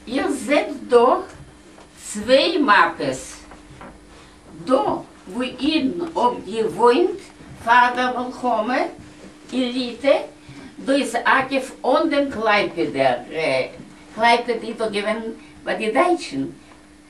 איר זעט דא צוויי מאפעס, דא וואו אידן האב געוואוינט פאר דער מלחמה אין ליטע, דא איז אגב אן דעם קלייפעדער, קלייפעד איז דא געווען ביי די דייטשן,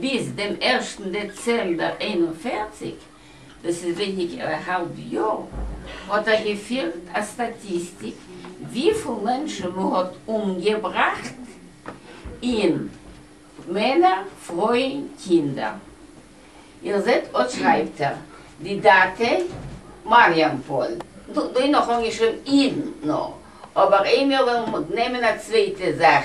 ביז דעם ערשטן דעצעמבער איין און פֿערציק, דאס איז ווייניגער א האלב יאר, האט ער געפירט א סטאטיסטיק וויפיל מענטשן מ'האט אומגעבראכט אין מענער, פרויען, קינדער. איר זעט אט שרייבט ער די דאטע מאריאנפאל, דא איז נאך אנגעשריבן אידן נאר, אבער איי מיר וועלן נעמען א צווייטע זאך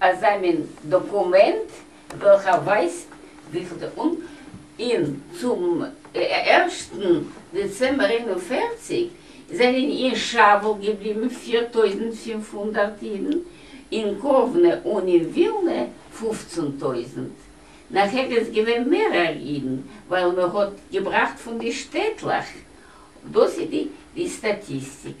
אזא מין דאקומענט וועלכע ווייזט וויפיל די און אין צום ערשטן דעצעמבער איין און פֿערציק זענען אין שאוול געבליבן פֿיר טויזנט פֿינף הונדערט אידן, אין קאוונע און אין ווילנע פֿופֿצן טויזנט. נאכער איז געווען מערער אידן ווייל מען האט געבראכט פון די שטעטלעך. דאס איז די סטאטיסטיק.